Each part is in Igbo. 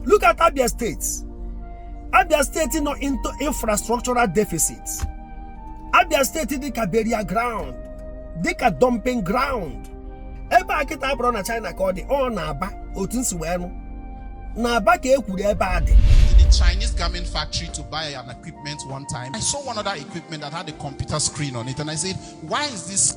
Look at Abia State. Abia State nọ into infrastructural deficit. Abia State dịka burial ground, dịka dumping ground. Ebe a kịta abụrọ na China ka ọ dị, ọ n'Aba otu m si wee nụ. N'Aba ka e kwuru ebe a dị. the Chinese garment factory to buy an equipment one time. I saw one other equipment that had a computer screen on it, and I said, Why is this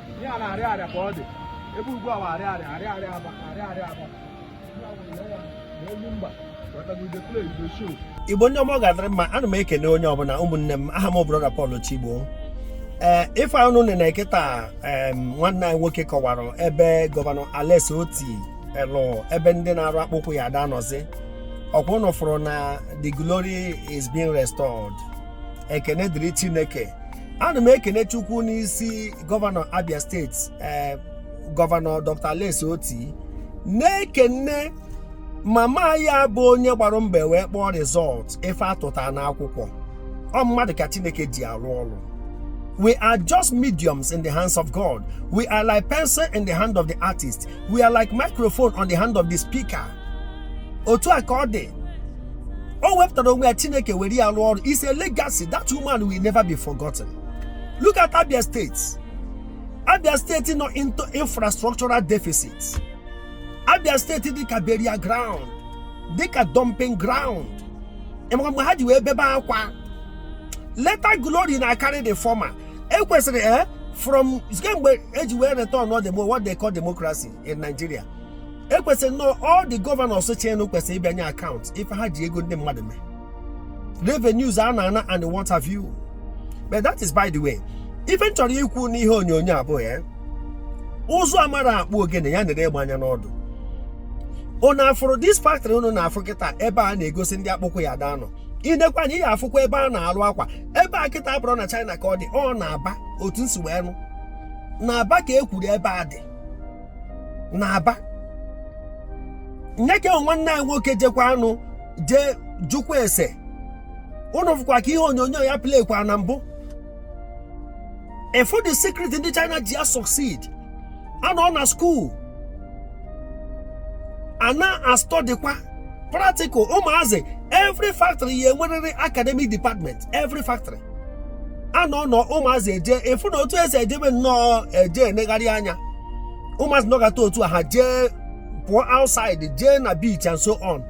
ihe a n'Ariaria ka ọ dị ebe ugbu a Ariaria Ariaria Aba Ariaria Aba Igbo ndị ọma ọ ga-adịrị mma ana m ekene onye ọbụla ụmụnne m aha m brọda Paul Chigbo ee eh, ife ụnụ nene kịta nwanne anyị nwoke kọwara ebe gọvanọ Alex Oti jelụ ebe ndị na-arụ akpụkwụ ya ada nọzi ọkwa ụnụ fụrụ na the glory is being restored ekene dịrị chineke ana m ekene chukwu n'isi gọvanọ abia steeti ee gọvanọ dr alex oti na-ekene mama ya bụ onye gbara mbọ wee kpọọ rizọt ife a tụta n'akwụkwọ ọ mmadụ ka chineke ji arụ ọrụ we are just mediums in the hands of god we are like pencil in the hand of the artist we are like microphone on the hand of the speaker otu a ka ọ dị o wepụtara onwe ya chineke were ya rụọ ọrụ is a legacy that woman will never be forgotten look at abia state abia state nọ into infrastructural deficit abia state dịka burial ground dịka dumping ground ị ma kemgbe ha ji wee bebe akwa latter glory na-akarị the former ekwesịrị eh from kemgbe e ji wee return to demo what they call democracy in Nigeria ekwesịrị nnọọ all the governors chịnụ kwesịrị ịbịa nye account ife ha ji ego ndị mmadụ mee revenues a na-ana and what have you but that is by the way ife m chọrọ ikwu n'ihe onyonyo abụọ ya eh? ụzụ amarọ akpụ ogene ya nere egbe anya n'ọdụ unu afụrụ this factory unu na-afụ kịta ebe a na-egosi ndị akpụkwụ ya daa nọ i nekwa anya ị ga-afụkwa ebe a na-alụ akwa ebe a kịta abụrọ na China ka ọ dị ọ n'Aba otu m si wee nụ n'Aba ka e kwuru ebe a dị n'Aba nee ka nwanne anyị nwoke jekwanụ jee jụkwa ese ụnụ fụkwa ka ihe onyonyo ya playkwa na mbụ ị fụ the secret ndị china ji a-succeed a nọ na skuul a na-astọdịkwa practical ụmụazị every factory ya-enwerịrị academic department every factory a nọ nọ ụmụazị eje ị fụ na otu esi ejebe nnọọ eje enegharị anya ụmụazị nọgata otu a ha jee pụọ outside jee na beach and so on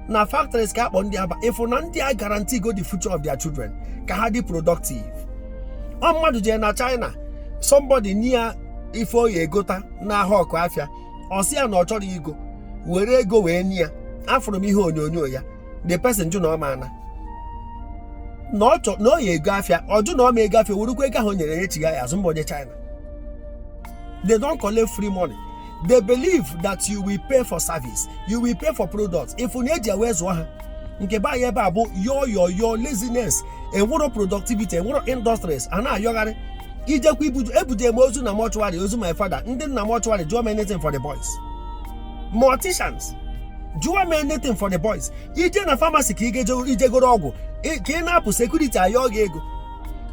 na factories ka akpọ ndị aba ị fụ na ndị a guarantee go the future of their children ka ha dị productive ọ mmadụ jee na China somebody near ife ọ ya egota na-ahawk afịa ọ sị ya na ọ chọrọ igo were ego wee nye ya afụrụ m ihe onyonyo ya the person jụ na ọ maana na ọ chọ na ọ ya ego afịa ọ jụ na ọ ma ego afịa werukwa ego ahụ o nyere ya echiga ya azụ mba onye China they don't collect free money they believe that you will pay for service you will pay for products ị fụ na eji wee zụọ ha nke be anyị ebe a bụ yọ yọ yọ laziness enwero productivity enwero industries a na-ayọgharị i jekwa ibuje ebuje m ozu na mortuary ozu my father ndị na mortuary jụọ m anything for the boys morticians jụwa m anything for the boys i je na famasi ka i je goro ọgwụ ka ị na-apụ sekuriti ayọ gị ego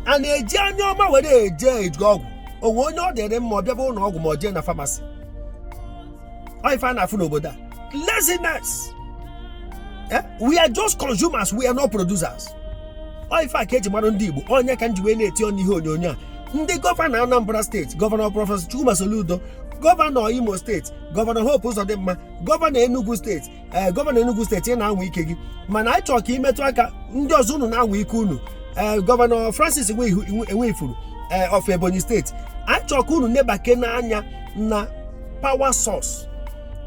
a na-eji anya ọma were eje eji ọgwụ o nwe onye ọ dịrị mma ọ bịaba ụlọ ọgwụ ma ọ jee na famasi ife a na-afụ n'obodo a laziness eh? we are just consumers we are not producers ife a ka eji mara ndị Igbo ọ nya ka m ji wee na-eti ọnụ ihe onyonyo a ndị gọvanọ Anambra steeti gọvanọ prọfesọ Chukwuma Soludo gọvanọ Imo steeti gọvanọ Hope Uzodimma gọvanọ Enugu steeti ee eh, gọvanọ Enugu steeti ị na-anwa ike gị mana anyị chọrọ ka i metụ aka ndị ọzọ unu na-anwa ike unu ee eh, gọvanọ Francis Nwifuru ee eh, of Ebonyi steeti anyị chọrọ ka unu nebakene anya na power source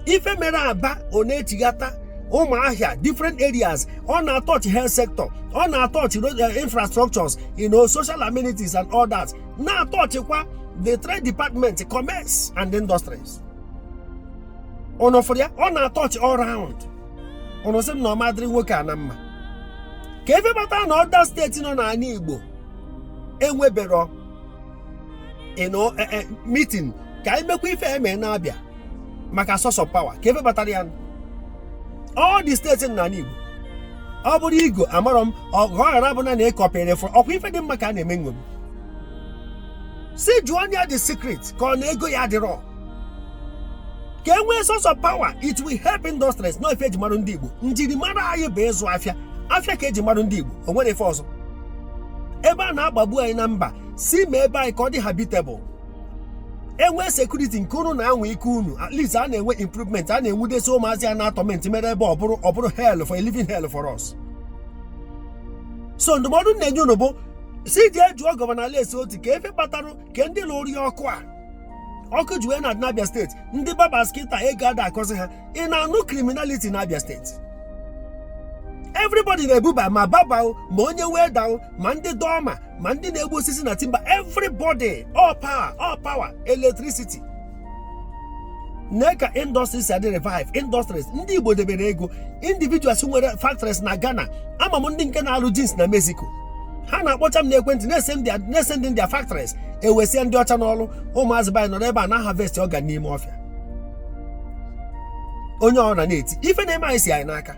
ife mere Aba ọ na-echighata Ụmụahịa different areas ọ na-atọch health sector ọ na-atọch eh, infrastructures you know social amenities and all that na-atọchkwa the trade department commerce and industries unu fụrụ ya ọ na-atọch all round unu sị m na ọ ma-adịrị nwoke a na mma ka e webata na other steeti nọ n'ana Igbo enwebero ịnọ meeting ka i mekwa ife eme na Abia maka source of power ka e webatara ya all the steeti n'anị Igbo ọ bụrụ ego amarọ m ọ ghara bụ na na-ekọpịrị fụrụ ọkwa ife dị mma ka a na-eme nṅomi si jụọ ya the secret ka ọ na ego ya adịrọ ka e nwee source of power it will help industries na ife eji marụ ndị Igbo njirimara anyị bụ ịzụ afịa afịa ka eji marụ ndị Igbo o nwere ife ọzọ ebe a na-agbagbu anyị na mba si mee be anyị ka ọ dị habitable e nwee sekuriti nke unu na-anwa ike unu at least a na-enwe improvement a na-enwudesi ụmụazị a na-atọment mere ebe ọ bụrụ ọ bụrụ hell for a living hell for us so ndụmọdụ m na-enye unu bụ si jee jụọ gọvanọ Alex Otti ka efe kpatara ka ndị lụrụ ya ọkụ a ọkụ ji wee na-adị na Abia steeti ndị barbers kịta ego ada akọzi ha ị na-anụ criminality na Abia steeti everybody na-ebuba ma barber ma onye welder ma ndị dọma ma ndị na-egbu osisi na timber everybody all power all power electricity nee ka industries si adị revive industries ndị Igbo debere ego individuals nwere factories na Ghana ama m ndị nke na-alụ jeans na Mexico ha na-akpọcha m n'ekwentị na-esend their factories ewesịa ndị ọcha n'ọrụ ụmụazị be anyị nọrọ ebe a na-aharvest organ n'ime ọfịa onye ọ na na-eti ife na-eme anyị si anyị n'aka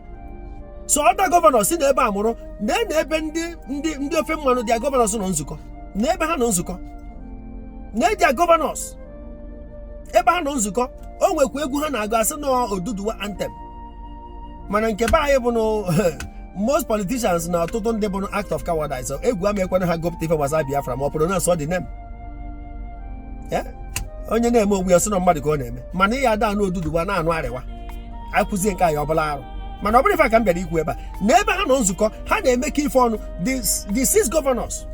so other governors si na ebe a mụrụ na na ebe ndị ndị ndị ofe mmanụ their governors nọ nzukọ na ebe ha nọ nzukọ na their governors ebe ha nọ nzukọ o nwekwa egwu ha na-agụ a sị na ọ Oduduwa anthem mana nke be anyị bụ na most politicians na ọtụtụ ndị bụ act of cowardice egwu ama ekwe na ha gụpụta ife gbasara Biafra ma ọ pronounce the name onye na-eme onwe ya sị na mmadụ ka ọ na-eme mana ihe ada anụ Oduduwa na-anụ Arewa a kụzie nke anyị ọ bụrụ arụ mana ọ bụrọ ife ka m bịara ikwu ebe a na ebe ha nọ nzukọ ha na-emekọ ife ọnụ the six governors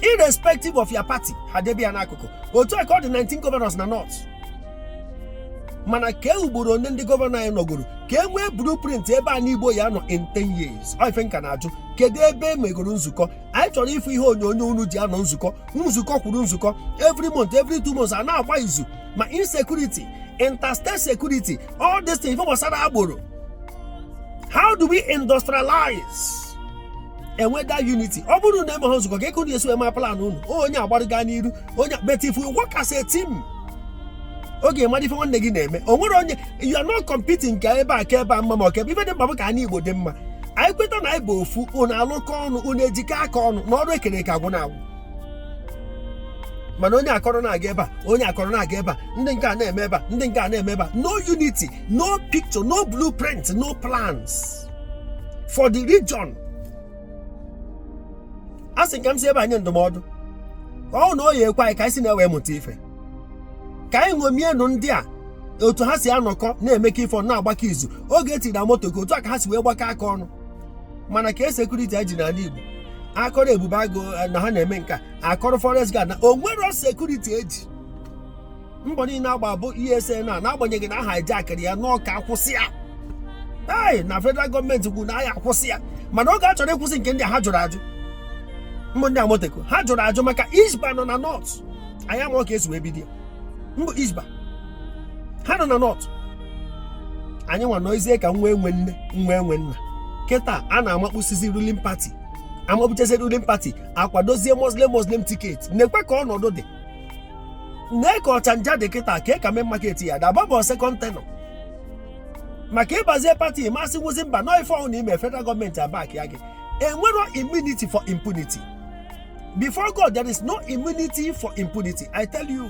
irrespective of your party ha debe ya n'akụkụ otu a ka ọ dị 19 governors na North mana kee ugboro one ndị gọvanọ anyị nọgoro ka e nwee blueprint ebe ana Igbo ya-anọ in 10 years ife nka na-ajụ kedu ebe e megoro nzukọ anyị chọrọ ịfụ ihe onyonyo unu ji anọ nzukọ nzukọ kwuru nzukọ every month every two months a na-agba izu ma insecurity interstate security all this thing ife gbasara agboro how do we industrialize e nwee that unity ọ bụrụ na emeghị nzukọ kee ka unu esi eme plan unu onye agbariga n'iru onye but if we work as a team ọ ga-ama ife nwanne gị na-eme o nwere onye you are not competing ka ebe a ka ebe a mma ma ọ ka ebe ife dị mkpa bụ ka ana Igbo dị mma anyị kweta na anyị bụ ofu unu alụkọ ọnụ unu ejikọ aka ọnụ na ọrụ e kere eke agwụna agwụ mana onye akọrọ na-aga ebe a onye akọrọ na-aga ebe a ndị nke a na-eme ebe a ndị nke a na-eme ebe a no unity no picture no blueprint no plans for the region a sị m ka m si ebe a nye ndụmọdụ ọ na ọ ya-ekwe anyị ka anyị si na ya wee mụta ife ka anyị ṅomienụ ndị a otu ha si anọkọ na-emekọ ife ọnụ na-agbakọ izu oge e tinyere Amotekun otu a ka ha si wee gbakọ aka ọnụ mana kee sekuriti e ji n'ala Igbo a kọrọ Ebube Agụ eh, na ha na-eme nka a kọrọ forest guard na o nwerọ sekuriti e ji mbọ niile agba bụ ESN a n'agbanyeghị na a hijackịrị ya na ọ ka a kwụsị ya ee na federal gọọmenti kwuru na a ya-akwụsị ya mana oge a chọrọ ịkwụsị nke ndị ha jụrụ ajụ mbụ ndị Amotekun ha jụrụ ajụ maka Hisbah nọ na North anyị ama ka e si wee bido ya mbụ Hisbah ha nọ na North anyị nwa nọizie ka nwa enwe nne nwa enwe nna kịta a na-amakpụsizi ruling party amakpụchezi ruling party akwadozie Muslim Muslim ticket na-ekwe ka ọnọdụ dị nee ka ọchanja dị kịta ka ka main market ya daba bụ second tenure maka ịbazie party masị nwụzi mba nọ ife ọbụna i me federal gọọmenti abackịa gị enwero immunity for impunity before god there is no immunity for impunity i tell you